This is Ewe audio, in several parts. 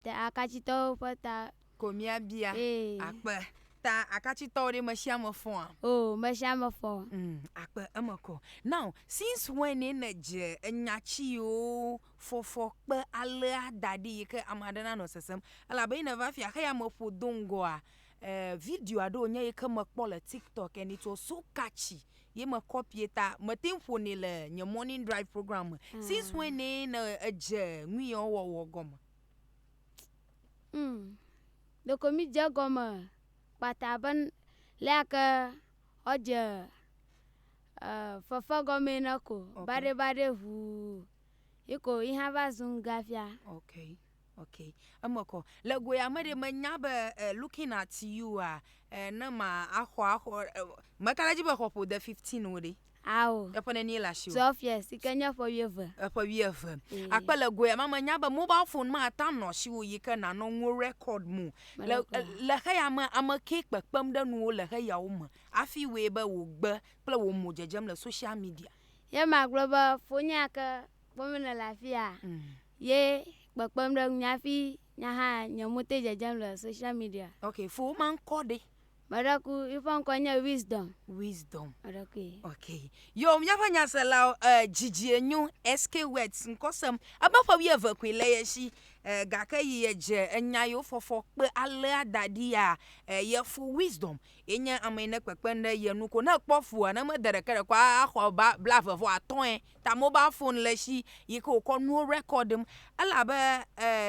Te Akatsitɔwo ƒe ta. Ko míabia. Ee. Akpe. Ta Akatsitɔwo ɖe mesiame fɔa? Oo, mesiame fɔ. Umm, akpe eme kɔ. Now, since when ye nèdze enya tsiwo fɔfɔ kpe alea da ɖi yi ke ame aɖe nanɔ sesem? Elabe ye nèva fia xeyame ƒo do ŋgɔa, Eh video aɖe wonye yi ke mekpɔ le tiktok and it was so catchy ye me copy ta mete ŋu ƒonɛ le nye morning drive program me mm. since when ne ne edze nu yɔ wɔwɔ gɔme mm. ɖeko mi dze gɔme kpata be lea ke ɔdze uh, eh, fefe gɔme ne ko okay. baɖe baɖe ʋuu yi ko yi hã va zu ŋgafia okay. Ok, eme kɔ. Le goe ame ɖe menya be uh, looking at you a uh, eh, ne ma axɔ axɔ uh, eh, meka ɖe dzi be xɔ ƒode 15 wo ɖe. Ao. Eƒe nenie le asi o. Twelve years, si ke nye eƒe wuieve. Eƒe wuieve. Akpe le goe ame menya be mobile phone ma ata nɔ si wo yi ke nanɔ nuwo record mo. Le le xeya me ame ke kpekpem ɖe nuwo le xeyawo me. Afi woe be wò gbe kple wò mo dzedzem le social media. Ye magblɔ be fonye ke Kpɔm mele le afia mm. ye kpekpem ɖe ŋu hafi nya hã nye mo te dzedzem le social media. Ok fo ma ŋkɔ ɖe. Meɖeku yiƒe ŋkɔ nye wisdom. Wisdom. Meɖeku ye. Ok yo míaƒe nyasela uh, eh, dzidzi enyo SK Words ŋkɔsem ebe ƒe wuieve koe le ye si uh, gake yi edze enya yewo fɔfɔ kpe alea da ɖi ya uh, eh, ye fo wisdom ye nye ame yi ne kpekpe ɖe ye nu ko ne ekpɔ fua ne mede ɖeke ɖe ko axɔ ba bla eve vɔ atɔ̃e. ta mobal fon le shi yi ke wòkɔ nuwo rekɔɖim. Elabe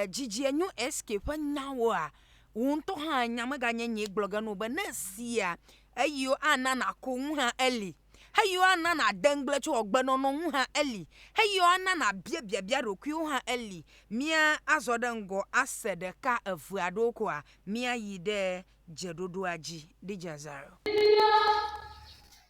dzidzie nyo SK ƒe nyawoa, wò ŋutɔ hã ènya meganye nyee gblɔ ge na wò be ne èsea, eyiwo ana nàku ŋu hã eli, eyiwo ana nàde ŋugble tso agbenɔnɔ ŋu hã eli, eyiwo ana nàbia biabia ɖokuiwò hã eli. Mía azɔ ɖe ŋgɔ ase ɖeka eve aɖewo koa míayi ɖe dzeɖoɖoa dzi. Di Jazar.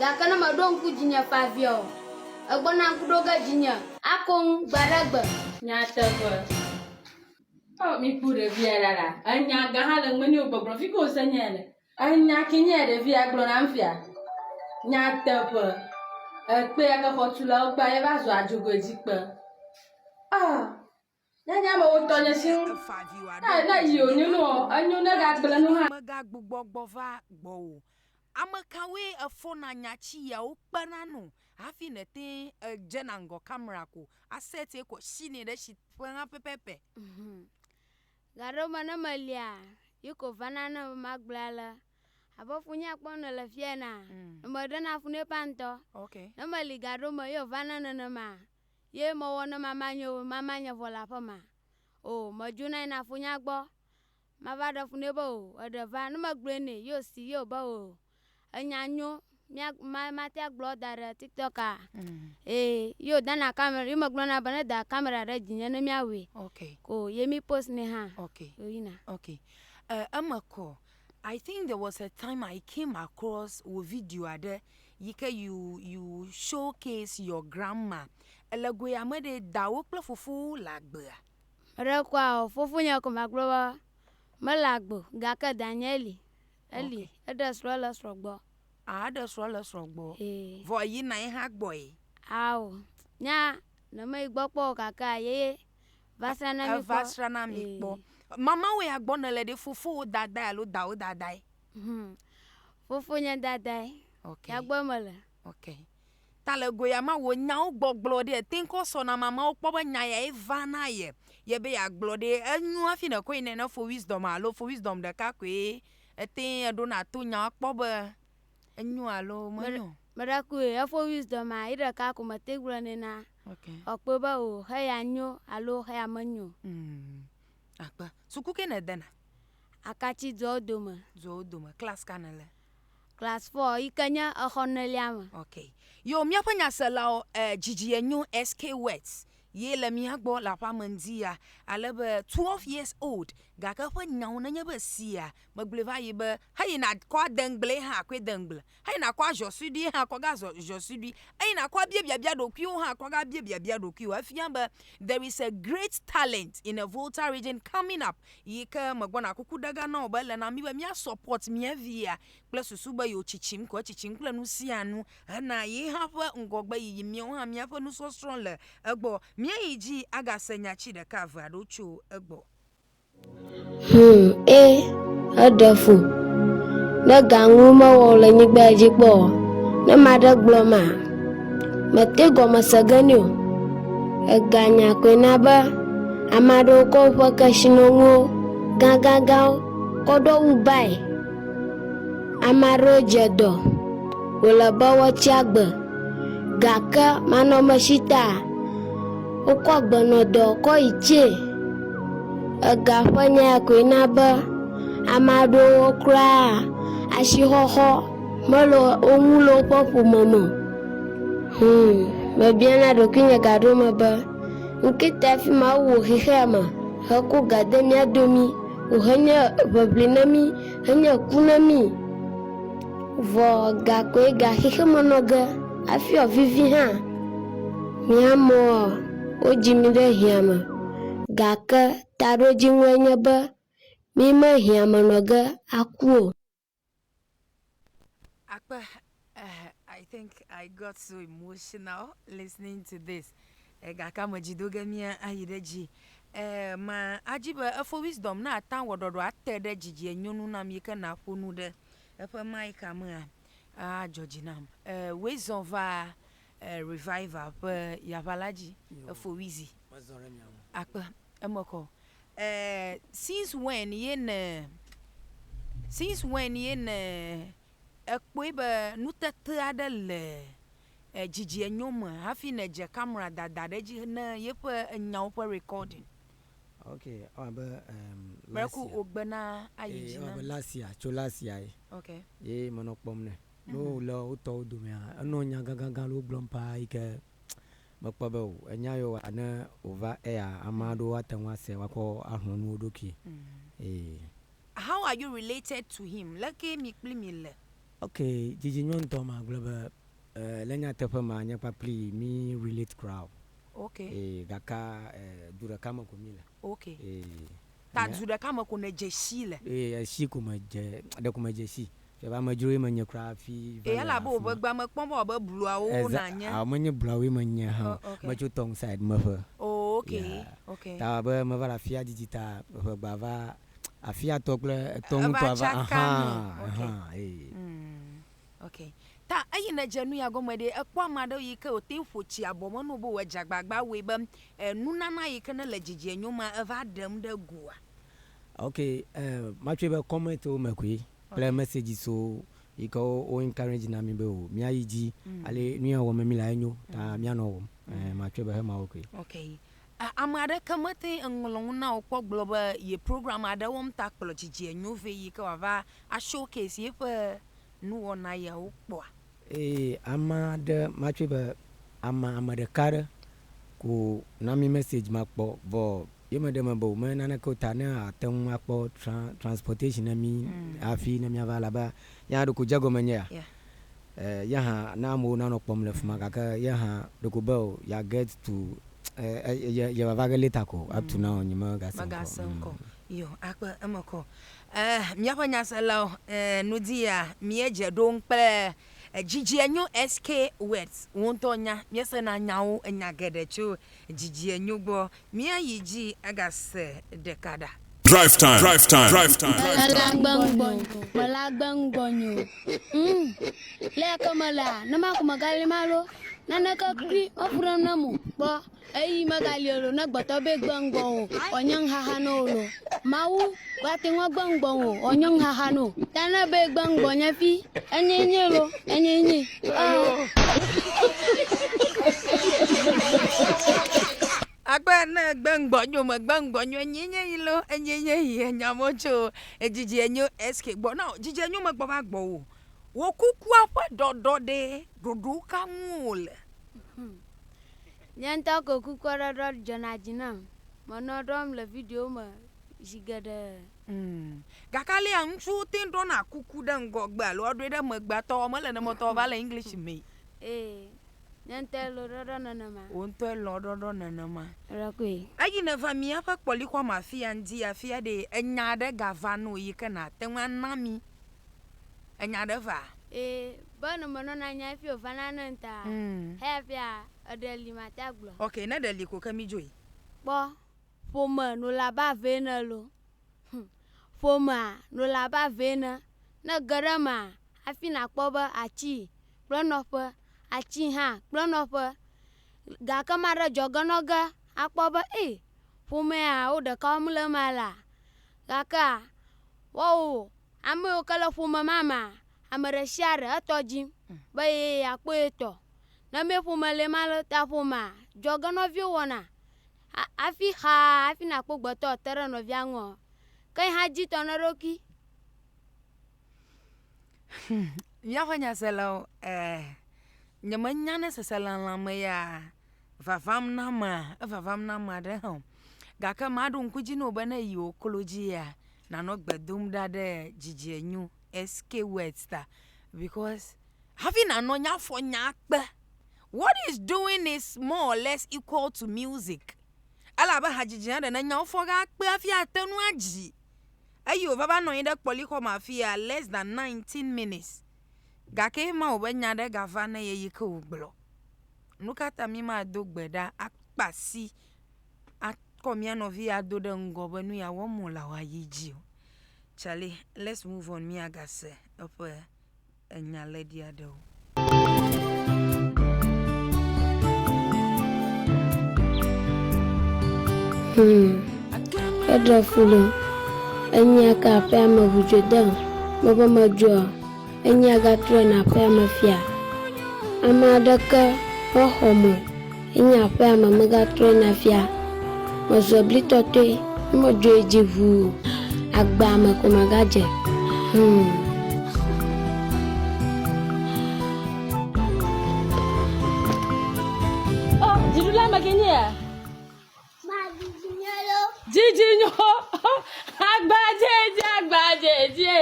Gake ne mèɖo ŋku dzinye ƒe abia o, Ègbɔna ŋku ɖo ge dzinye. Akoŋ gbe aɖe gbe. Nyateƒe. Oh miku ɖevia ɖaɖa enya gã ha le meni o gbɔgblɔ fike wose nyae le. Enya ke nye ɖevia gblɔ nam fia. Nyateƒe. Ekpea ke xɔtulawo kpea ye va zɔa dzogoe dzi kpe. Ah Ne nye amewo ŋutɔ nye si ŋu. Ne ne yi wònyo nu o, enyo ne gagblẽ nu hã. Megagbugbɔ gbɔ va gbɔwò. Ame kawoe èfɔna nya ci yeawo kpena nu hafi nète ŋu edzena ŋgɔ kamera ko aset ye kɔ shinɛ ɖe shi ƒe hã pɛpɛpɛ? Gaɖewo me ne melia, ye ko vana nam be magblɔe ale, Abe funyea kpɔm nèle fia enea, ne meɖena fu nɛ ƒã ŋutɔ. Ne meli gaɖewo me ye wòvana nenema. Ye mewɔ ne mama nye o, mama nye vɔ le aƒema. O, medzo na yi na fonya gbɔ. Mava ɖe fu nɛ be o, eɖe va. Ne megblɔe nɛ, ye o si, ye o be o. Enya nyo, mia, ma, mate agblɔ da ɖe tiktok a. Ee, ye o dana kamera, ye megblɔ na be ne da kamera ɖe dzinye ne mia we. Ok. Ko ye mi post nɛ hã. Ok. Ye o yina. Ok. E, eme kɔ. I think there was a time I came across wò video aɖe yi ke you you showcase your grandma. Ele goe ame ɖee dawò kple fofowò le agbea? Meɖe kpɔa o. Fofonye ko magblɔ be mele agbe o gake danyɛ li. Eli. Okay. Eɖe srɔ̃ le esrɔ̃ gbɔ. Ah eɖe srɔ̃ le esrɔ̃ gbɔ. Ee. Vɔ èyina ye hã gbɔe? Ao. Nya ne meyi gbɔ kpɔ o kakea yeye Va sra na mi kpɔ. Eva sra na mi kpɔ. Mamawo ya gbɔ nèle ɖe fofowò dadae alo dawò dadae? Hmm. Fofo nye dadae. Ok. Ya gbɔe mele. Ok. Ta le go ya ma wò nyawo gbɔgblɔ ɖe ete ŋu kɔ sɔ na mamawo kpɔ be nya yae va na ye ye be yeagblɔ ɖe. Enyo hafi nèkɔe nɛ ne fo wisdom alo fo wisdom ɖeka koe ete ŋu eɖona to nyaa kpɔ be Enyo alo menyo? Meɖakue efo wisdom ma yi ɖeka ko mete gblɔ nɛ na ɔkpɔe be o xe ya nyo alo xe ya menyo. Hmm. Akpa suku ke ne dena? Akatsi dua wo dome. Dua wo dome class ka ne le? Class four yi ke nye exɔ nelia me. Ok. Yo míaƒe nyaselawo eh, dzidzi enyo SK words Ye le mía gbɔ le aƒea me ŋdi ya, ale be twelve years old, gake eƒe nyawo nenye be sia megblɔe va yi be, Heyi nàkɔ adeŋgblee hã akɔe deŋgble, heyi nàkɔ azɔ suɖuie hã akɔgazɔ zɔ suɖui, heyi nàkɔ abia biabia ɖokuiwò hã akɔgabia biabia ɖokuiwò. Efia be there is a great talent in a Volta region coming up yi ke megbɔna. Kuku ɖega na wò be ele na mí be mía support mía via kple susu be yewotsitsim ko etsitsim kple nu sia nu hena ye hã ƒe ŋgɔgbeyiyi. Míawo hã míaƒe nusɔsrɔ̃ le egbɔ. Míayi dzi agase nya tsi ɖeka eve aɖewo tso egbɔ. Hum, ẽ, eɖe fu. Ne ga ŋu mewɔ o le nyigba ya dzi kpɔ o, ne ame aɖe gblɔ ma, mete gɔme se ge nɛ o. Ega nya koe na be ame aɖewo kɔ woƒe kesinɔnuwo gãgãgãwo kɔ ɖo wu bae. Ame aɖewo dze dɔ, wòle be woatsi agbe, gake manɔmesita wokɔ agbenɔdɔ kɔ yi tsie. Ega ƒe nya ya koe na be ame aɖewo kura asixɔxɔ mele wo ŋu le woƒe ƒome me o. Hmm, mebiana ɖokuinye gaɖewo me be, ŋketa fi ma wowɔ xexea mea? Hekɔ ga de mía domi, wòhenye ʋeʋli na mí, henye ku na mí. Vɔ gakɔe ga xexeme nɔ ge hafi ɔ, vivi hã. Mía mɔ ɔ, wodzi mí ɖe hiã me, gake taɖodziŋɔe nye be, mí me hiã me nɔ ge aku o. Akpe, uh, I think I got so emotional listening to this. Eh, gake ame dzi do ge mía ayi ɖe dzi. Eh, ma adzi be efo wisdom na ata wɔ ɖɔɖɔ ate ɖe dzidzie nyɔnu nam yi ke na ƒo nu ɖe eƒe mic mea. Ah, dzɔ dzi nam. Eh, wezɔn va Revival ƒe yaʋa la dzi efowui zi akpe eme kɔ eh since when ye ne since when ye ne ekpɔe be nutete aɖe le dzidzienyo me hafi ne dze camera dada ɖe dzi ne yeƒe nyawo ƒe recording. Ok ewɔ abe em last year. Breku wò gbe na ayi dzi na mi. Last year tso last year ye ye menɔ kpɔm nɛ. Ne wòle wo tɔwo domea, enɔ nya gãgãgã aɖewo gblɔm ƒaa yi ke mekpɔ be o enya yewo wɔa ne wòva ea, ame aɖewo ate ŋu asee woakɔ ahlɔ̃ nu wo ɖokui. Ee. How are you related to him? Leke mi kpli mi le? Ok, dzidzi nyɔ ŋutɔ magblɔ be eh, le nyateƒe mea nye kpakplii mi relate kura o. Ok. Ee, gakea eh, du ɖeka me ko mi le. Ok. Ee. Ta du ɖeka me ko nèdze sii le. Ee, esi ko medze, ɖeko medze sii. Via be amedzrowoe menye kura hafi va le afi ma. Ee, elabe wò ʋegbea mekpɔm be wɔ abe bluawo nànye. Exa, ao menye bluawoe menye hã o. Oh, ok. Metso Tong side me ƒe. Oo, ok, Ya. ok. Ta wɔ abe meva le afia didi ta ʋegbea va, afia tɔ kple etɔ ŋutɔa va, Eva tsaka ahaa, nu. Ok. ahaa, ee. Umm. Ok. Ta eyi ne dze nu ya gɔme ɖe, ekpɔ ame aɖewo yi ke wote ƒo tsi abɔ me na wo be wòadze agbagba awɔe be eh, nunana yi ke nele dzidzie nyo ma eva ɖem ɖe gua. Ok, eh, matsɔe be comment wo me koe kple Ok. message so yi ke wo wo encourage na mi be o miayi dzi ale nu ya wɔm mi la enyo ta mianɔ wɔm. Eh, matsɔe be hemawo koe. Ok. Eh, ame aɖeke mete ŋlɔ nu na wò kpɔ gblɔ be ye program aɖe wɔm ta kplɔ dzidzie nyo vɛ yi ke wòava a showcase yeƒe nuwɔna yawo kpɔa? Eye ame aɖe ma tsoe be ame ame ɖeka aɖe ko na mi message ma kpɔ vɔ ye me ɖe me be wome naneke o ta ne ate ŋu akpɔ transportation na mi hafi ne miava elabe yehã ɖeko dze egɔme nye ya yehã na amewo nanɔ kpɔm le fima gake yehã ɖeko be o ya get to ye va va ge later ko up to now nye me gase ŋkɔ o. Yɔ akpe eme kɔ. E Míaƒe nyaselawo, e nu di ya míedze ɖo ŋu kple e dzidzienyo SK Words. Wò ŋutɔ nya, míesena nyawo, enya geɖe tso dzidzienyo gbɔ. Míayi dzi agase ɖeka ɖa. Drive time, drive time, drive time. Ela gbe ŋgbɔ nyo, mela gbe ŋgbɔ nyo. Humm, leyake melea, ne maku megali malo, naneke kpli meƒu ɖem ne mo. Kpɔ, Eyi megali o lo ne gbɔtɔ be gbe ŋgbɔ o ɔ nye ŋxaxa no o lo. Mawu gbatɛ ŋɔ gbe ŋgbɔ ŋ o ɔ nye ŋxaxa no. Ta ne be gbe ŋgbɔ nye fi enye enye lo enye enye ɔ. Akpe ne gbe ŋgbɔ nyo me gbe ŋgbɔ nyo enye enye yi lo enye enye yi enya mɔ tso ejiji enyo eskɛ gbɔ na o jiji enyo me gbɔ va gbɔ o. Wokukua ƒe ɖɔɖɔ ɖe ɖoɖo ka ŋu o le? Nye ŋutɔ ko kukɔɖɔɖɔ dzɔna dzi nam. Menɔa ɖɔm le videowo me zi geɖe. Mm. Gake alea ŋutsuwo te ɖɔna kuku ɖe ŋgɔgbe alo woaɖɔe ɖe megbe atɔ wɔ mele nemetɔ va le English me. Ee, nye ŋutɔe lɔ̃ ɖɔɖɔ nenema. Wò ŋutɔe lɔ̃ ɖɔɖɔ nenema. Ɖɔkoe. Eyi nèva míaƒe kpɔlixɔa me afia ŋdi afia ɖee, enya aɖe gava nɔ yi ke nàte ŋu ana mí. Ènya ɖe va? Ee, be ne menɔna nya hafi wòvana ne ŋta, heyafia eɖe li mate agblɔ. Ok, ne ɖe li ko ke midzoe. Kpɔ, ƒome no le abe ave ene lo. Hm, ƒomea no le abe ave ene. Ne ge ɖe emea, hafi nàkpɔ be atsii kple nɔƒe, atsii hã kple nɔƒe. Gake maɖe dzɔ ge nɔ ge akpɔ be ee, ƒomea wo ɖeka wɔm le ema lea? Gakea, woawo Ame yiwo ke le ƒome ma mea, ame ɖe sia ɖe etɔ dim be ye yeakpɔ ye tɔ. Ne mee ƒome le ema le ta ƒomea, dzɔgenɔviwo wɔna ha hafi xaa hafi nakpɔ gbetɔ te ɖe nɔvia ŋu. Ke yi hã dzitɔ na eɖokui. Hum, míaƒe nyaselawo, ɛɛ, nyemenya ne seselelãme yaa vavam na amea, evavam na ame aɖe hã o, gake maɖo ŋku dzi na wò be ne èyi wò klo dzia, nànɔ gbe dom ɖa ɖe dzidzienyo, SK words, ta because hafi nànɔ nya fɔ nya kpe, what he is doing is more or less equal to music, ele abe hadzidzi ene, ne nyawo fɔ ge akpe hafi ate ŋu adzi. Eyi wòva va nɔ anyi ɖe kpɔlixɔme afi ya less than nineteen minutes gake ema wòbe nya ɖe gava ne ye yi ke wògblɔ. Nu ka ta míemado gbe ɖa akpe asi akɔ mía nɔvi ado ɖe ŋgɔ be nu ya wɔm wòlea wòayi dzi o? Charlie, let's move on míagase eƒe enya lɛɖi aɖewo. Hmm. Eɖe fu ɖem. Enya ka ƒe ame ŋudzodea mebe medzɔa? Enyia gatrɔe na aƒea me fia. Ame aɖeke mexɔ me enye aƒea me megatrɔe na fia. Mezɔ bli tɔtɔe ne medzɔe dzi ŋuu agbea me ko magadze. Hum. Oh, dziɖula me ke nye ya. Dzidzinu agbadzedze agbadzedze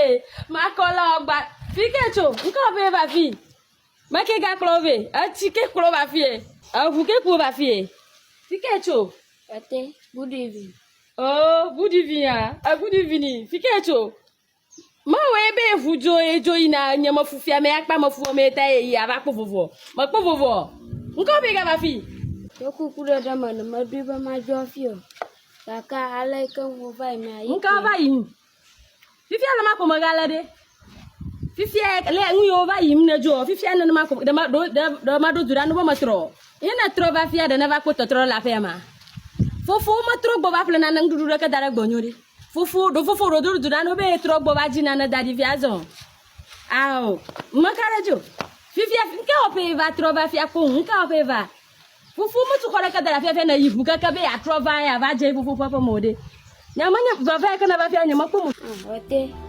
makɔla agba fi ke tso ŋkɔ be va fi me ke gakplɔ vɛ etsi ke kplɔ va fi eŋu ke kplɔ va fi fi ke tso ete ʋuɖuɖu oo ʋuɖuɖu ya eʋuɖuɖu ni fi ke tso. Mewɔe be ŋu dzo ye dzo yina nye mefu fia me akpa mefu me ta ye yi ava kpɔ vovo. Mekpɔ vovo. Ŋkɔ be gava fi. Ɖo kuku ɖe ɖe me ne meɖoe be madzo afi o. Gake ale yi ke ŋu va yi mea yi. Ŋka va yi. Fifia ne makpɔ mega le ɖe. Fifia le ŋu yo va yi ne dzo. Fifia ne makpɔ ɖe ma ɖo ɖe ma ɖo du ɖa no be metrɔ. Ye ne trɔ va fia ɖe ne va kpɔ tɔtrɔ le afia ma. Fofo metrɔ gbɔ va ƒle nane ŋɖuɖu ɖe ke da ɖe gbɔ nyo ɖe. Fofo ɖo fofo ɖo do ɖo do nane be trɔ gbɔ va dzi nane da ɖi via zɔ. Ao, mme ka ɖe dzo. Fifia nke wɔ ƒe va trɔ va fia kpo nke wɔ ƒe va. Fofo me tu xɔ ɖe ke da ɖa fia fia ne yi ʋu keke be ya trɔ va ya va dze fofo ƒe ƒe mo ɖe. Nya me nya va va ke na va fia nye me kpo mo. Ɔte.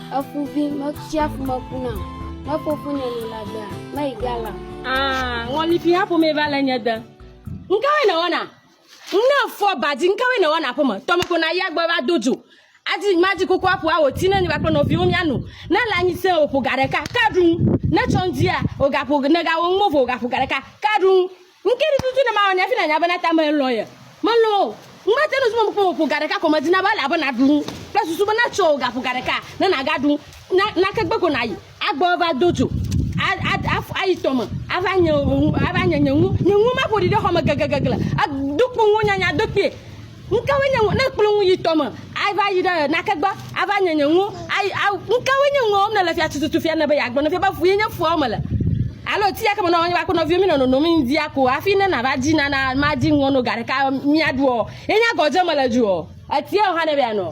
Eƒu vi metia ƒu me kuna o. Ne fofonye li la gbea, meyi ga la. Aa, ŋɔlifi ha ƒomee va le nye de. Ŋkawoe nèwɔna? Ne fɔ badi, ŋkawoe nèwɔna aƒeme? Tɔme ko na yia gbɔ va do dzo. Adi madi koko aƒo awo ti ne nye kpakple nɔviwo mia nu. Ne le anyi sẽe o, ƒo ga ɖeka, ka ɖu ŋu. Ne tsɔ ŋdia, o ga ƒo, ne ga wo ŋu mo vɔ o ga ƒo ga ɖeka, ka ɖu ŋu. Ŋkeli tutu ne mawɔ nɛ hafi nanya bena ta melɔ̃ ye. Melɔ̃ o. Ŋmate ŋu zumem kpɔ o. Ƒo ga ɖeka ko medina be ele abe nàɖu nu kple susu bena tsɔ wò gaƒo ga ɖeka ne nàgaɖu nu. Na, nake gbe ko nàyi. Agbɔ ava do dzo. A, a, a, ayi tɔ me. Ava nye wò nu, ava nye nye nu. Nye nuwo maƒo ɖi ɖe xɔ me gegegegle. Edo kpo nuwo nyanya do kpuie. Nukawoe nye ŋuwo? Ne ekplɔ ŋu yi tɔ me, ava yi ɖe nake gbɔ, ava nye nye ŋuwo, ayi, a, nukawoe nye ŋuwo wɔm nèle fia tututu fia nèbe yeagblɔ ne fia be ƒu ye nye fuawo me le? Alo ti ya ke me nɔ wò kple nɔviwò mi nɔ nonom yi ŋdia ko hafi ne nàva di nana madi ŋuwo no ga ɖeka miaɖuɔ, ye nye agɔdze mele dzoɔ? Etiawo hã nebe yeanɔ?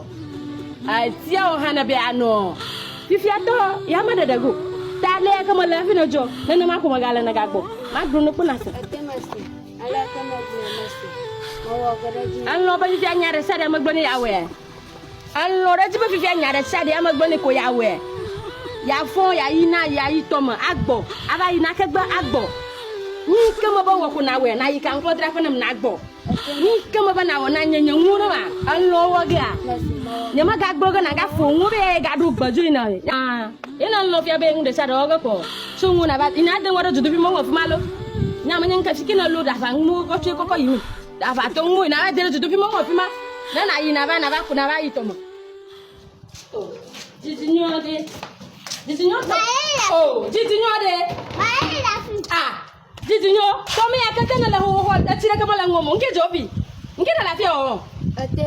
Etiawo hã nebe yeanɔ? Fifiatɔ, yame ɖeɖe go. Ta le ya ke mele hafi nedzɔ, nenema ko megale nègagbɔ. Magblɔ ne kpɔ nàse. Elɔ̃ be fifia nya ɖe sia ɖe megbe ne yeawɔe. Elɔ̃ ɖe edzi be fifia nya ɖe sia ɖe emegbe ne ko yeawɔe. Yeafɔ yeayi na yeayi tɔme agbɔ, ava yi na kegbe agbɔ. Nu yi ke mebe wɔ ko nawɔe, nayi kanklodzraƒe nam nagbɔ. Nu yi ke mebe nawɔ na nye nye nuwo ɖe ma, elɔ̃ wɔ gea, nyemagagblɔ ge nagafɔ nuwo be eyae gaɖo gbe dzoe nam. Aa, ye ne elɔ̃ fia be nu ɖe sia ɖe wɔ ge ko Tso ŋu na va ina de ŋɔ ɖe duduvi mɔ ŋɔ fuma lo. Nya menye ŋke fiki ne lo ɖava ŋu kɔ tso kɔkɔ yi mi. Ɖava to ŋu ina va de duduvi mɔ ŋɔ fuma. Ne na yi na va na va ku na va yi tɔmɔ. O. Didi nyɔ de. Didi nyɔ to. O. Didi nyɔ de. A. Didi nyɔ. To mi akete ne le ho ho ho etsi ɖe ke mɔ le ŋɔ mo. Ŋke dzobi. Ŋke ɖe la fia o. Ete.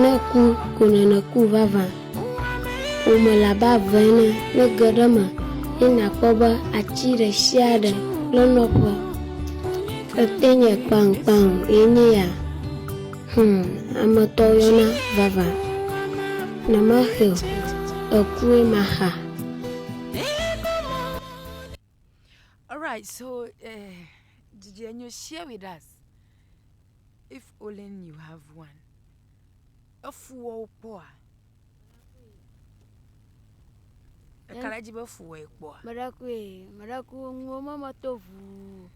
Ne ku ko nènɔ ku vavã o mele abe ave ene ne ge ɖe eme ye nàkpɔ be atsi ɖeshiaɖe kple nɔƒe ete nye kpaŋkpaŋ ye nye ya. Hum ame tɔ yɔna vavã ne maxe o ekue maxa. Alright so eh, did you, you share with us if only you have one? Efuwɔwo kpɔa? Eka ɖe edzi be efuwɔ ye kpɔa? Meɖeku ye, meɖeku nuwo meme to ʋuu.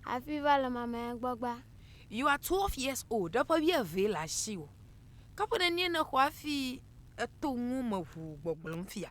Hafi va le mamea gbɔgba. You are twelve years old, eƒe wuieve le asiwò. Ke ƒe nenie nèxɔ hafi eto nuwo me ʋuu gbɔgblɔm fia?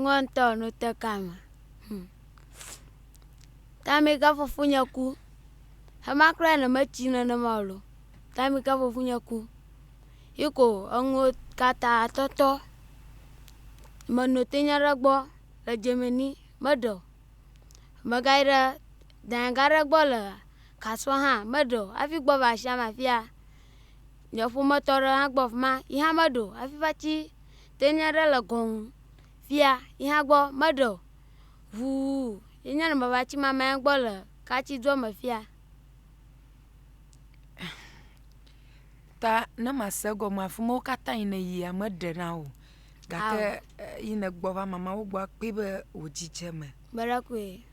Ŋɔ ŋutɔ no te ka me. Hm. Time ka fofonye ku. Hema kura ne me tsi nenema o lo. Time ka fofonye ku. Yi ko enuwo kata tɔtɔ. Me no te nye ɖe gbɔ le Germany, me ɖe o. Me ga yi ɖe dayɛ ga ɖe gbɔ le Kasuɔ hã, me ɖe o. Hafi gbɔ va shia me afia, nye ƒometɔ ɖe hã gbɔ fima, yi hã me ɖe o. Hafi va tsi. Te nya ɖe le gɔn ŋu. Fia yihã gbɔ meɖe o. Ʋuu yi nye nubabla tsi ma maya gbɔ le katsi dua me fia. Ta ne ma se gɔme afima wo kata yi ne yia me ɖe na o. Gake yi ne gbɔ va mama wo gbɔ akpe be wo dzi dze me. Meɖe koe.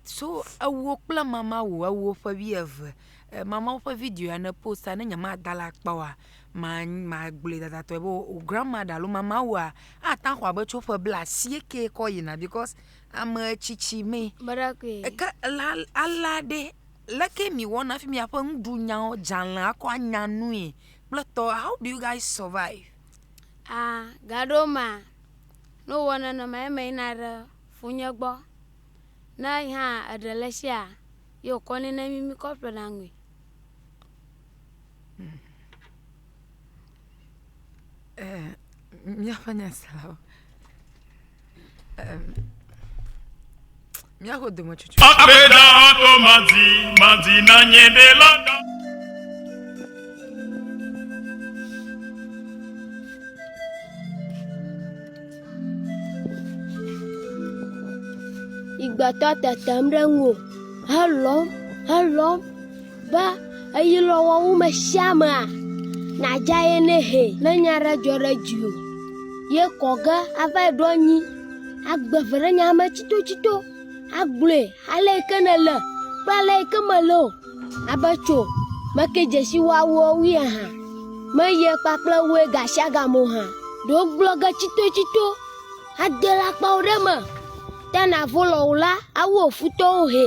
So ewo kple mama wò ewo ƒe wuieve. Mama wò ƒe video ya ne posta ne nye ma da ɖe akpa oa ma ma gblɔe dadatɔe be wò grandmother alo mama wòa ate ŋu axɔ abe tso ƒe bla asieke kɔ yina because ame tsitsi mee. Me ɖe koe. Eke la alea ɖe leke mi wɔna hafi miaƒe nuɖunyawo dzale akɔ anya nui kple tɔ how do you guys survive. Aa gaɖewo mea ne wowɔ nenema eme yina ɖe ƒunye gbɔ. Ne yi hã eɖe le tsia, ye wòkɔ nɛ ne mí míkɔ ƒlena nui. Ɛɛ, míaƒe nyaselawo. Ɛɛ, míaƒe dometsotsotso. Akpeda ato madi madi na nye ɖela da. Igbetɔ tetem ɖe ŋuwò helɔ̃m, helɔ̃m be eyi lɔ wɔwu me shia mea, nàdza ye nɛ hɛ. Ne nya ɖe dzɔ ɖe dziwò ye kɔ ge ava yi ɖo anyi agbe ve ɖe nya me tsitotsito. Agblɔe ale yi ke nèle kple ale yi ke mèle o. Abe tso meke dzesi woawo wui aha, meye kpakple woe gasiagam o hã. Ɖewo gblɔ ge tsitotsito, ade le akpawo ɖe me, te navo lɔ o la, awu wò futɔwo hɛ.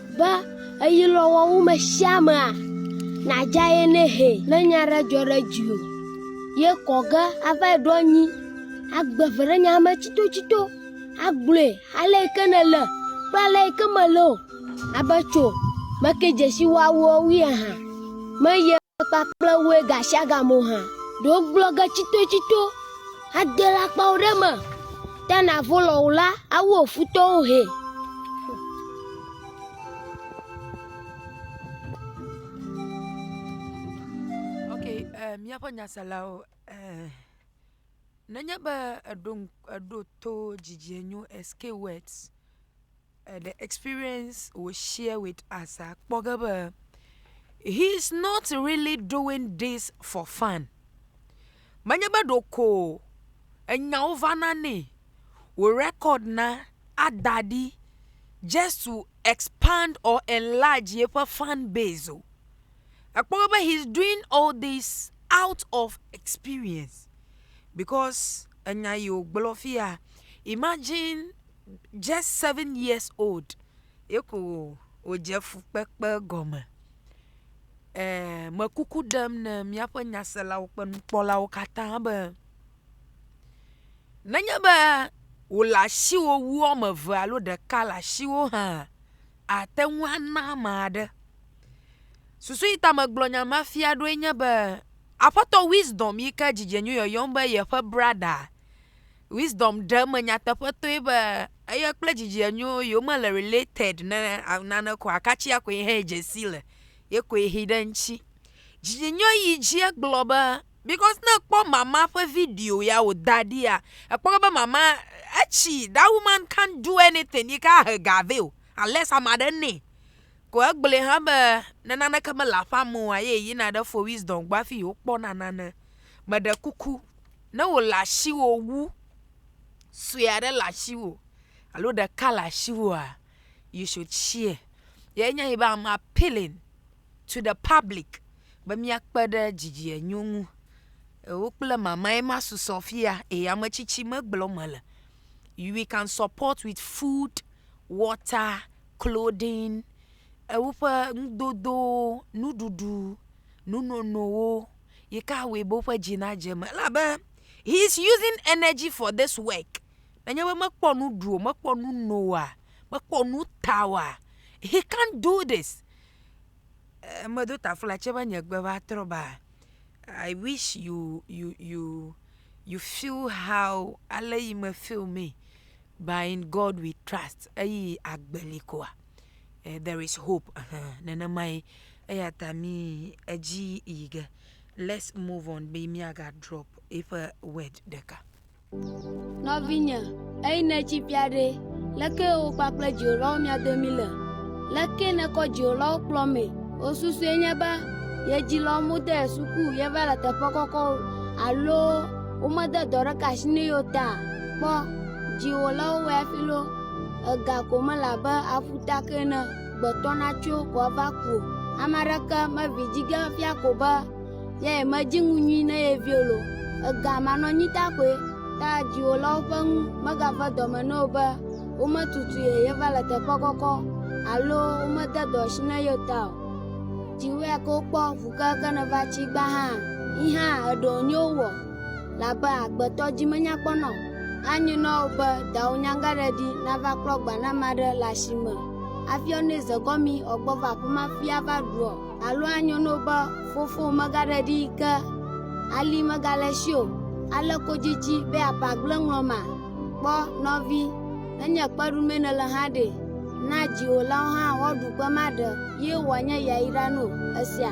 Be eyi lɔ wɔwu me shia mea, na dja ye ne he. Ne nya ɖe djɔ ɖe djiwo, ye kɔ ge ava yi ɖo anyi, a gbe ve ɖe nya me tsito tsito, a gblɔe ale yi ke ne le kple ale yi ke me le o. A be tso, me ke djeshi wɔawuɔ wui ahan, me ye. kpakple woe gashiagame o hã, ɖe wogblɔ ge tsitotsito ade le akpawo ɖe me te navo lɔ o la, awu wò futɔwo hɛ. Okay, eh, míaƒe nyaselawo eh, nenye be eɖo, eɖo to dzidzienyo escape words eh the experience we share with us akpɔ ge be he is not really doing this for fun. Menye be ɖeko enyawo va na nɛ wò record na ada ɖi just to expand or enlarge yeƒe fan base o. Ekpɔ ge be he is doing all this out of experience because enya yi wògblɔ fi ya imagine just seven years old ye ko wòdze fukpekpe gɔme. Eeee mekuku ɖem ne míaƒe nyaselawo kple nukpɔlawo katã be nenye be wòle asiwò wu woame eve alo ɖeka le asiwò hã àte ŋu ana ame aɖe. Susu yi ta megblɔ nya ma fia ɖoe nye be aƒetɔ Wisdom yi ke dzidzenu yɔyɔm be yeƒe brada Wisdom ɖe eme nyateƒetɔe be eye kple dzidzienyo yewo mele related ne nane ko akatsia koe hɛ dze si le ye koe hi ɖe ŋtsi. Dzidzienyo yi dzi egblɔ be because ne ekpɔ mama ƒe video ya wòda ɖia ekpɔ be mama etsi that woman can't do anything yi ke ahe ga vɛ o unless ame aɖe nɛ. Ko egblɔe hã be ne naneke mele aƒea me oa ye yina ɖe fo Wisdom gbɔ hafi yewokpɔna nane. Meɖe kuku Ne wòle asiwò wu, sue aɖe le asiwò alo ɖeka le asiwòa, you should share. Ye nya be I'm appealing to the public be míakpe ɖe dzidzienyo ŋu. Ewò kple mamae ma susɔ fia eye ame tsitsi megblɔm mele. We can support with food, water, clothing, ewoƒe nudodowo, nuɖuɖu, nunonowo. Yi ka awɔe be woƒe dzi nadze eme? Elabe he is using energy for this work. Nenye be mekpɔ nu ɖu o, mekpɔ nu no oa, mekpɔ nu ta oa, he can't do this. Eh, medo taflatse be nye gbe va trɔ ba. I wish you you you you feel how ale yi me feel me. But in God we trust. Eyi agbe li koa. eh, there is hope uh-huh. nenemae eya ta mi edzi yi ge let's move on be miaga drop eƒe word ɖeka nɔvinye eyi netsi bia ɖe leke wo kpakple dziwolawo mia domi le leke nekɔ dziwolawo kplɔ me wosusue nye be yedzilɔ mu de suku yeva le teƒe kɔkɔ alo womede dɔ ɖeka asi ne yo ta kpɔ dziwolawo wɔ afilo Ega ko mele abe aƒuta ke ene gbetɔna tso ko ava ku o. Ame aɖeke meʋli dzi ge fia ko be yae medzi ŋu nyui ne ye viwo lo. Ega manɔnyita koe ta dziwòlawo ƒe nu megave dɔme na wò be wometutu ye yeva le teƒe kɔkɔ alo womede dɔ asi na ye o ta o. Dziwòe ke wokpɔ ŋu kekeake nèva tsi gbã hã yi hã èɖe wò nyowo wɔ. Labe agbetɔ dzi menya kpɔ na wò. Anyi na wò be dawò nyagaɖeɖi nava klɔ gba ne ame aɖe le asi me afiɔ nɛ zegɔmi ɔ gbɔ va aƒe ma fi ava ɖu ɔ? Alo anyo na wò be fofowò megaɖeɖi yi ke ali megale esi o ale kodzi tsi be aƒe agble ŋlɔ ma? Kpɔ, nɔvi, ne nye kpe ɖu mee nèle hã ɖe, na dziwòlawo hã woaɖu kpe ma ɖe ye wòanye yayra na wò. Èsea?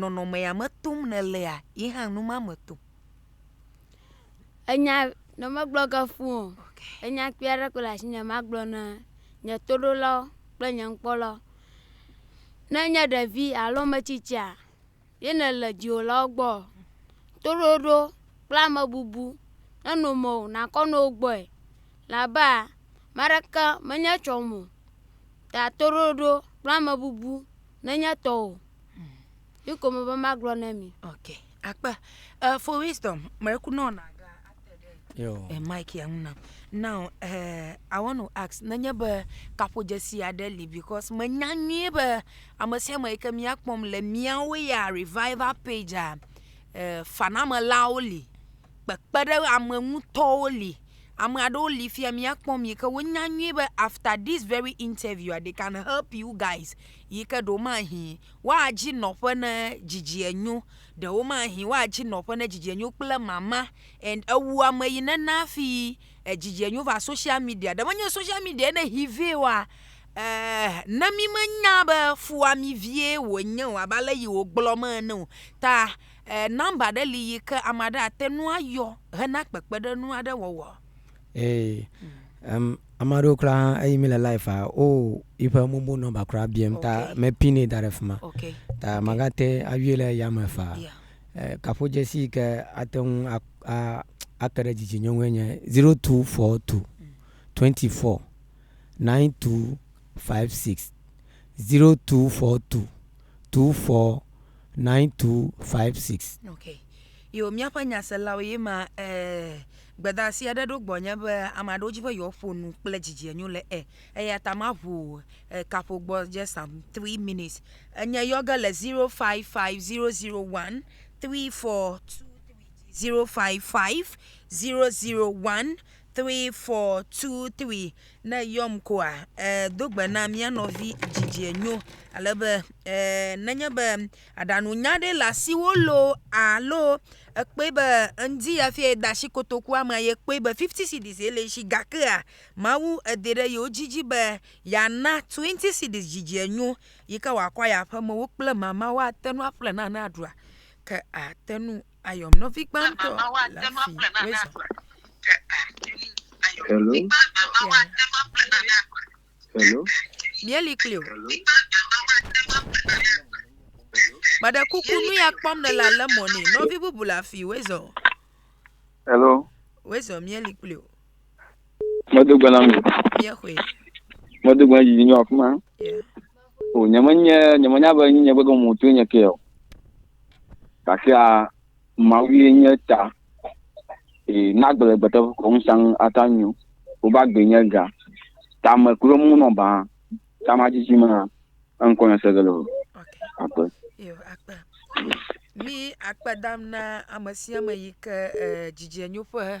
nɔnɔme ya me tom nèlea, ye hã nu ma me tom. Enya ne megblɔ ge fũ o, enya kpui aɖe koe le asinye magblɔ na nye toɖolawo kple nye nukpɔlawo. Ne enye ɖevi alo ame tsitsia ye nèle dziwòlawo gbɔa, toɖoɖo kple amebubu nenɔ eme o nàkɔ nɔ wo gbɔe. Elabea ame aɖeke menye etsɔ me o ta toɖoɖo kple amebubu. Nenye etɔ o. Yi ko mebe magblɔ na mi. Ok. Akpe. Uh, for wisdom, mekunɔ na ga ate ɖe uh, mic ya ŋu nam. Now, uh, I want to ask, nenye be kaƒodzesi aɖe li because menya nyuie be ame sia ame yi ke míakpɔm le míawo ya revival page uh, fanamelawo li. kpekpeɖeame ŋutɔwo li. Ame aɖewo li fi ya míakpɔ mi yi ke wonya nyuie be afta dis veri intɛviua de kan help yu gais yi ke ɖewomahĩ woadi nɔƒe ne didi enyo, ɖewomahĩ woadi nɔƒe ne didi enyo kple mama and ewu ame yi nena hafi didi enyo va soshial midia. Ne menye soshial midia ne hi vɛ oa eeee ne mi menya be fuamivie wonye o abe ale yi wogblɔ me ene o ta. E Nɔmba ɖe li yi ke ame aɖe ate ŋu ayɔ hena kpekpeɖeŋu aɖe wɔwɔ? Ee. Em, ame aɖewo kura hã, eyi mi le live-a, wo yiƒe mobile nɔmba kura biam ta Okay. me pin-nɛ da ɖe fi ma. Okay. Ta Okay. magate ayɔe le yame faa. Yeah. Eh, Kaƒodzesi yi ke ate ŋu a- a- ake ɖe dzidzinyɔ ŋue nye 0242 24 9256. 0242 24 9256. Ok. Yo, míaƒe nyaselawo ye ma eh, gbedasi aɖe ɖo gbɔnye be ame aɖewo dzi be yewoaƒo nu kple dzidzienyo le e. Eya ta maʋu eh, kaƒo gbɔ just some three minutes. Enye yɔ ge le 055001 3423. 055001 three four two three ne yɔm koa eh, do gbe na mía nɔvi dzidzie nyo alebe eh, nenye be aɖanu nya ɖe le asiwo lo alo ekpe be eŋdi ya fia da asi kotokua me ye kpe be fifty cedis ye le si gakea mawu ede ɖe yewo dzidzi be yana twenty cedis dzidzie nyo yi ke wòakɔ ya ƒe mewo kple mama woate nu aƒle nane aɖua ke ate nu Ayom nɔvi gbãtɔ le afi wezɔ. Hello. Hello. Míeli kpli o. Meɖe kuku nu ya kpɔm ne la le mɔ ne nɔvi bubu le afi wezɔ. Hello. Wezɔ míeli kpli o. Medo gbe na mi. Míexɔe. Medo gbe na didi nyɔ afima. O nyemenya nyemenya be nyinye gbegɔmu to nye ke o. Gakea Mawue nye ta si na agbelegbeteƒe ƒe ŋusẽ ata nyo. Woƒe agbee nye ga. Tame kple mo nɔ baa, tama dzidzi me hã. Eŋkɔ nye Segeloo. Akpe. Yo, akpe. Mí akpe dam na ame sia ame yi ke e, dzidzienyoƒe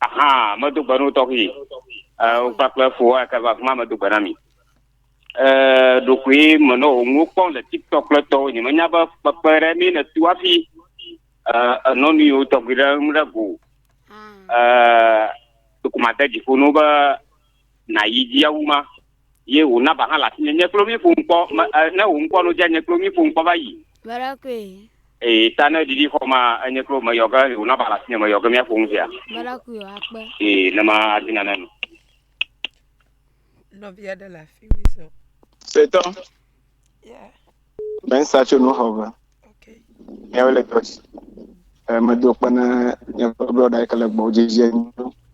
Aha, medo gbe no tɔxi. Ewo kpakple fo wa ke va kuma medo gbe na mi. Eh, ɖokui me no ŋu kpɔ le TikTok le tɔ nye menya be kpekpe ɖe mi ne tu afi. Eh, enɔ nu yo tɔgbi ɖe ŋu ɖe go. Ah. Eh, dokuma de dziƒo no be Na yi dzi awu ma. Ye wò naba hã le asi nye nye klo mi ƒom kpɔ me e ne wò ŋkɔ no dze nye klo mi ƒom kpɔ va yi. Mera koe. Ee ta ne ɖiɖi xɔ ma enye klo me yɔ ge wò naba le asi nye me yɔ ge mi aƒom zia. Mera koe o akpe. Ee ne ma adi nane nu. Nɔvia ɖe le afi mi sɔ. Setɔ. Mensa tso nu xɔ me. Yawo le dɔ si. Medo kpe na nyɔƒe blɔɖa yi ke le gbɔ dzi zie nu.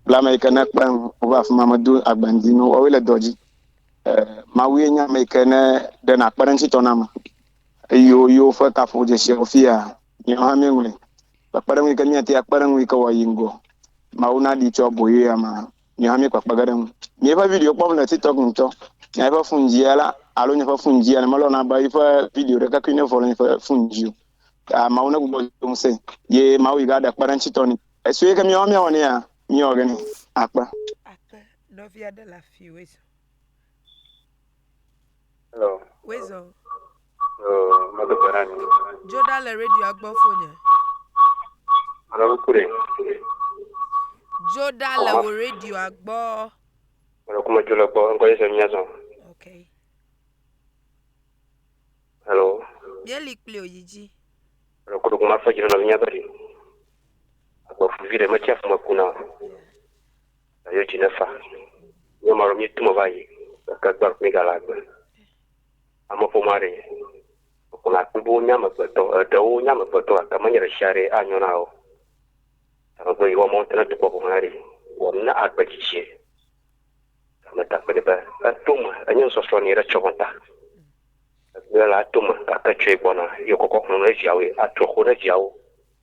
Blame yi ke ne kpe ŋu wova afi ma medo agbandi nu wɔwo le dɔ dzi. Mawu ye nye ame yi ke ne ɖe na kpe ɖe ŋuti tɔ na me. Eye wo yewo ƒe kaƒo dze sia wo fia. Nye hã mi ŋlɔe. Kpe ɖe ŋu yi ke mi ate akpe ɖe ŋu yi ke wɔ yi ŋgɔ. Mawu na ɖi tso aboyo ya ma. Nye hã míekpɔ akpa ge ɖe eŋu. Nye ƒe video kpɔm le TikTok ŋutɔ. Nye eƒe fun dzia la alo nye ƒe fun dzia la melɔ̃na be eƒe video ɖekakpui nevɔ le nye ƒe fun dzi o. Aa, Mawu negbugbɔ nye ŋusẽ ye Mawu yi ɖaɖe kpeɖeŋutitɔ nɛ. Esue ke míawo míawɔ nɛ ya, míewɔ ge nɛ. Akpe. Akpe, nɔvia ɖe le afiwe zã. Hello. Wezɔ. Yo, medo gbe ɖa ni. Dzo ɖa le radioa gbɔ fonye. Alo ku ɖe. Dzo ɖa le wò radioa gbɔ. Alo ku medzo le gbɔ, ŋkɔ Yesu mía zɔ. Ok. Hello. Míeli kpli wò yi dzi. Alo ku ɖogo ma fɔ dzi ɖe nɔvinya be ɖi. Agbefuvi ɖe metsi afɔ me kuna o. Yeah. Ayo dzi ne fa. Nye ma ɖo mi tu me va yi. Ke gbe mi ga la gbe. Ame ƒo ma ɖe. Ko na kpe bo nya me gbe tɔ. E de wo nya me gbe tɔ. Ka me nye ɖe sia ɖe a nyo na wo. Ka me gbe yi wa mo te ne tu kpɔ ko ma ɖe. Wa mi na a gbe dzi dzi. Ka me ta kpe de be. E to me. E nye nsɔsɔ ni re tsɔ me ta. E gbe la to me. Ka ke tsɔe gbɔ na. Yo kɔkɔ kɔnɔ ne via wo. A trɔ ko ne via wo.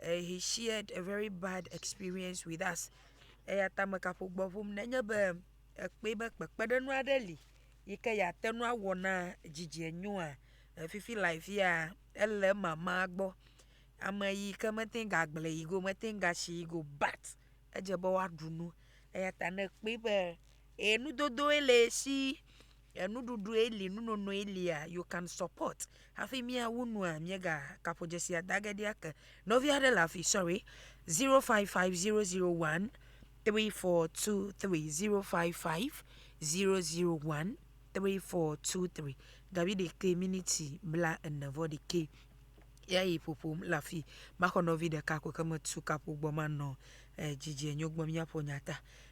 eh, he shared a very bad experience with us eya ta me kaƒo gbɔ ƒom nenye be ekpɔe be kpekpeɖeŋu aɖe li yi ke yeate ŋu awɔ na dzidzie nyoa fifi le afia ele mama gbɔ ame yi ke mete ŋu agblẽ yi go mete ŋu asi yi go but edze be woaɖu nu eya ta ne ekpɔe be e nudodoe le esi Enuɖuɖue li nunonoe lia you can support hafi mia wu nua mia ga kaƒo dzesia dage ɖi ake nɔvi aɖe le afi sorry 0550013423 0550013423 gabi ɖekɛ miniti bla ene vɔ ɖekɛ ya yi ƒoƒom le afi maxɔ nɔvi ɖeka ko ke metu kaƒo gbɔ manɔ eh, dzidzie nyo gbɔ miaƒo nyata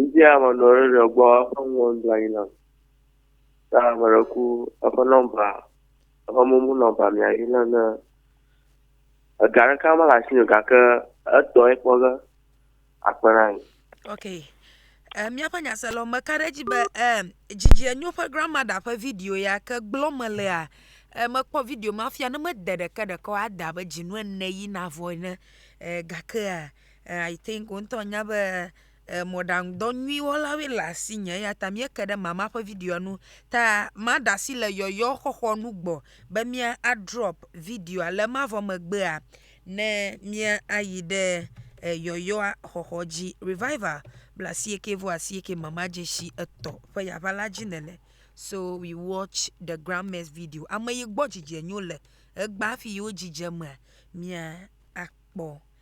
Ŋdi ame nɔ ɖe ɖe gbɔ eƒe nuwo nɔ anyi nam. Ta ame ɖe ku eƒe nɔmba, eƒe momo nɔmba mea yi nam ne. Ega ɖeka me le asinye o gake etɔ ye kpɔ ge akpe na mi. Ok. E miaƒe nyasela me ka ɖe edzi be e dzidzienyo ƒe grandmother ƒe video ya ke gblɔ me lea e mekpɔ video ma fia ne mede ɖeke ɖeke o ade abe dzinu ene yi navɔ ene e gakea I think wò ŋutɔ nya be mɔɖaŋudɔ nyui wɔlawoe le asinye eya ta míeke ɖe mama ƒe videoa ŋu. Ta maɖe asi le yɔyɔxɔxɔ nu gbɔ be míadrɔp videoa. Le ema vɔ megbea, ne míayi ɖe yɔyɔa xɔxɔ dzi. Revival blaasieke vɔ asieke mama dzesi etɔ̃ ƒe yaʋa la dzi nèle. So we watch the grandma's video. Ame yi gbɔ dzidzɛ nyo le egbea hafi yewo dzidzemea, míakpɔ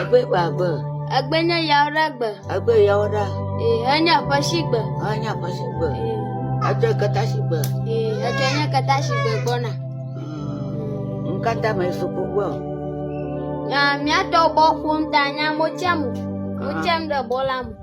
Egbe gba gbe. Egbe nye yawo ɖe gbe. Egbe yawo ɖe. Ee, enye aƒe si gbe. Enye aƒe si gbe. Edzɔ kata si gbe. Ee, edzɔ nye kata si gbe gbɔna. Hmm, Nkata me suku gbɔ. Nya miatɔ bɔ ƒom ta nya mo tsɛm. Mo tsɛm ɖe bɔ la mo.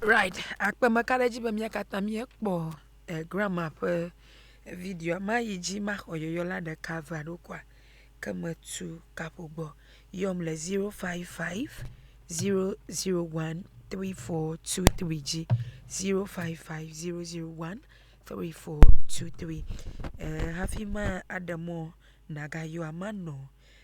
Right, akpe meka ɖe edzi be mía katã míekpɔ eh, grandma ƒe videoa. Mayi dzi maxɔ yɔyɔ la ɖeka vea ɖo kɔa ke metu kaƒo gbɔ. Yɔm le 055 001 3423 dzi. 055 001 3423. Eh, hafi ma aɖe mɔ nàgayɔa manɔ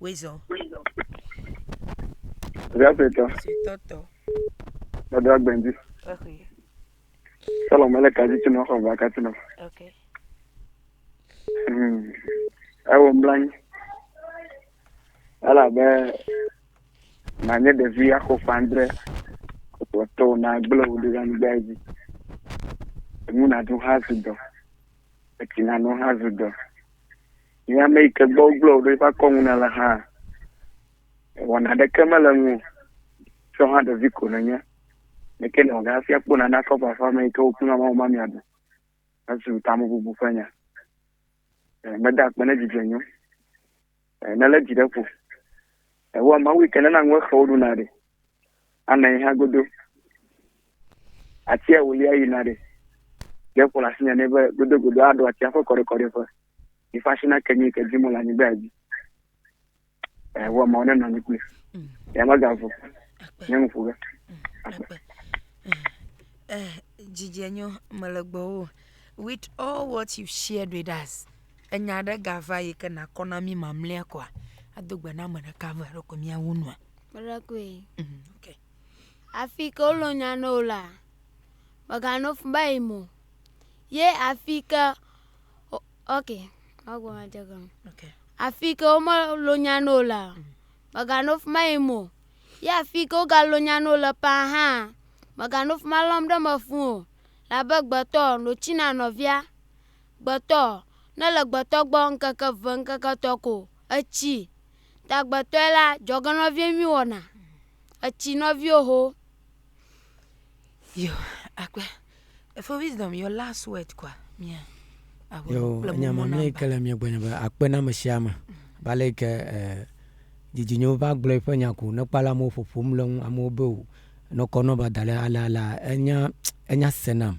Wezɔ. Via suetɔ. Suetɔ tɔ. Dada gbɛndi. Ehe. Sɔlɔ mele kadzi tsi nɔ xɔ va katsi nɔ. Ok. Hmm. Ewo mblanyi. Ala be na nye ɖevi axo fandre kpɔtɔ na gble wo ɖe anyigba dzi. Enu na du ha zu dɔ. Etsi na nu ha zu dɔ. Nye ame yi ke gbɔ wogblẽ wò ɖo eƒe akɔ ŋu nèle hã, wɔna aɖeke mele ŋu o, tsɔ hã ɖevi ko nènye. Ame ke nèwɔ ge hafi akpɔ nane akɔ ƒe aƒea me yi ke wò kple mamawò ma miaɖu. Ezu tamebubu ƒe nya. E, meda akpe ne dzidzɔe nyo. E, nelé dzi ɖe ƒo. Yehowa Mawu yi ke nena ŋu exewo ɖuna ɖe. Ana yi hã godo. Atia wòlia yina ɖe. Ɖe ƒo le asinye nɛ be godogodo aɖo atia ƒe kɔɖekɔɖeƒe. Yi ƒe asi nake nyui ke dzim wòle anyigba dzi. Yehowa Mawu nenɔ anyi kpli. Ya megavu. Nye ŋu ƒo ge. Akpe. Eh, Gigi Enyo, Melegbɔwo. With all what you've shared with us, Enya aɖe gava yi ke nakɔ na mí mamlea koa? Ado gbe na ame ɖeka eve ɖeko míawu nua. Meɖekoe. Mm, ok. Afi ke wolo nya ne wò la, mèganɔ fu be yim o. Ye afi ke o- ok, magblɔ nya dze gɔme. Ok. Afi ke womelo nya ne wò la, mèganɔ fu be yim o. Ye afi ke wogalo nya ne wò le ƒãa hã, mèganɔ fu be alɔm ɖe eme fũ o. Elabe gbetɔ notsi na nɔvia. Gbetɔ, ne le gbetɔ gbɔ ŋkeke ve ŋkeke etɔ ko etsi ta gbetɔe la dzɔge nɔvie nyui wɔna etsi nɔvio ho. Yo akpe. Efo wisdom your last word kwa mia. Yo nya mamle yi ke le mia gbɔnye be akpe na ame sia ame. Ba le yi ke eh, didinyo va gblɔ yi ƒe nya ko ne kpala amewo ƒoƒom le ŋu amewo be o nɔkɔ nɔ ba da le ala ala enya enya senam.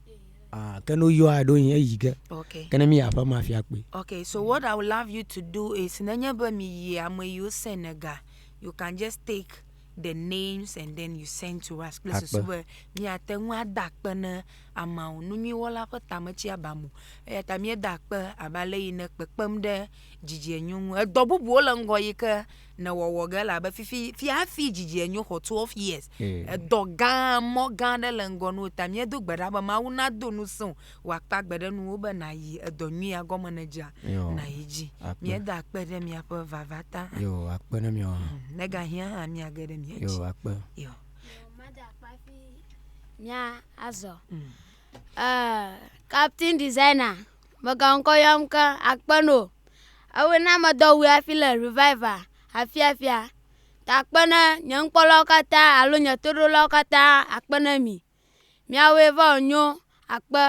Ah, ke no yɔ aɖo yin eyi ge. Okay. Ke ne mi aƒe ma fia kpe. Okay, so what I would love you to do is nenye be mi yi ame yiwo send ga, you can just take the names and then you send to us kple susu be mi ate ŋu ada akpe ne ameawo nu nyui wɔla ƒe tame tsi aba mo. Eya ta mi da akpe abe ale yi ne kpekpem ɖe dzidzie nyu ŋu. Edɔ bubuwo le ŋgɔ yi ke ne wɔwɔ ge la be fifi fi hafi dzidzi enyo xɔ twelve years edɔ gã mɔ gã aɖe le ŋgɔ nuwo ta míedo gbe ɖa be mawu nado nu sẽw wòakpa gbe ɖe nuwo be nàyi edɔ nyuia gɔme ne dzea nàyi dzi míeda akpe ɖe miaƒe vava ta akpe ɖe miawo hã mm, negahiã hã míage ɖe mia dzi akpe mía azɔ mm. uh, captain designer Megaŋkɔ yɔm ke akpe no. Ewe na medɔ wu hafi le reviva afiafia. Ta akpe ne nye nukpɔlawo katã alo nye toɖolawo katã akpe ne mi. Miawoe va wònyo akpe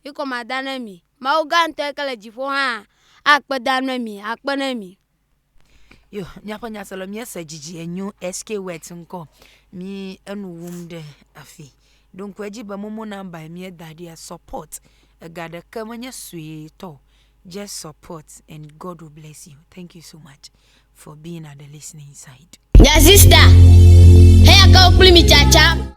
yi ko mada ne mi. Mawu gã ŋtɔe ke le dziƒo hã akpe dam ne mi akpe ne mi. Yo míaƒe nyasela míese dzidzi enyo SK wet ŋkɔ mí enu wum ɖe afi. Ɖo ŋku edzi be momo nɔmba yi míeda ɖia support ega ɖeke menye suetɔ o. Just support and God will bless you. Thank you so much for being at the listening side. Nya sista, heya ke wokpli mi tsatsa.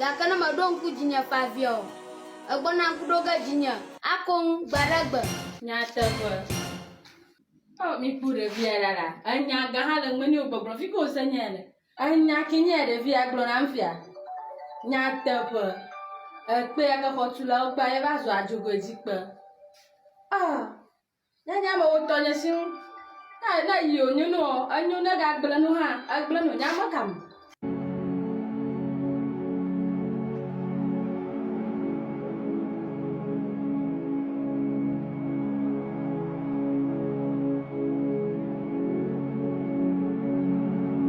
Gake ne mèɖo ŋku dzinye ƒe abiea o, ègbɔna ŋku ɖo ge dzinye. Akoŋ gbe ɖe gbe. Nyateƒe. Oh miku ɖevia ɖa la enya gã ha le meni o gbɔgblɔ fike wose nyae le. Enya ke nye ɖevia gblɔ nam fia. Nyateƒe. Ekpea ke xɔtulawo kpea ye va zɔa dzogoe dzi kpe. Ah. Ne nye amewo ŋutɔ nye si ŋu. Ne ne yi wònyo nu ɔ, enyo ne gagblẽ nu hã, egblẽ nu nye ame ka me?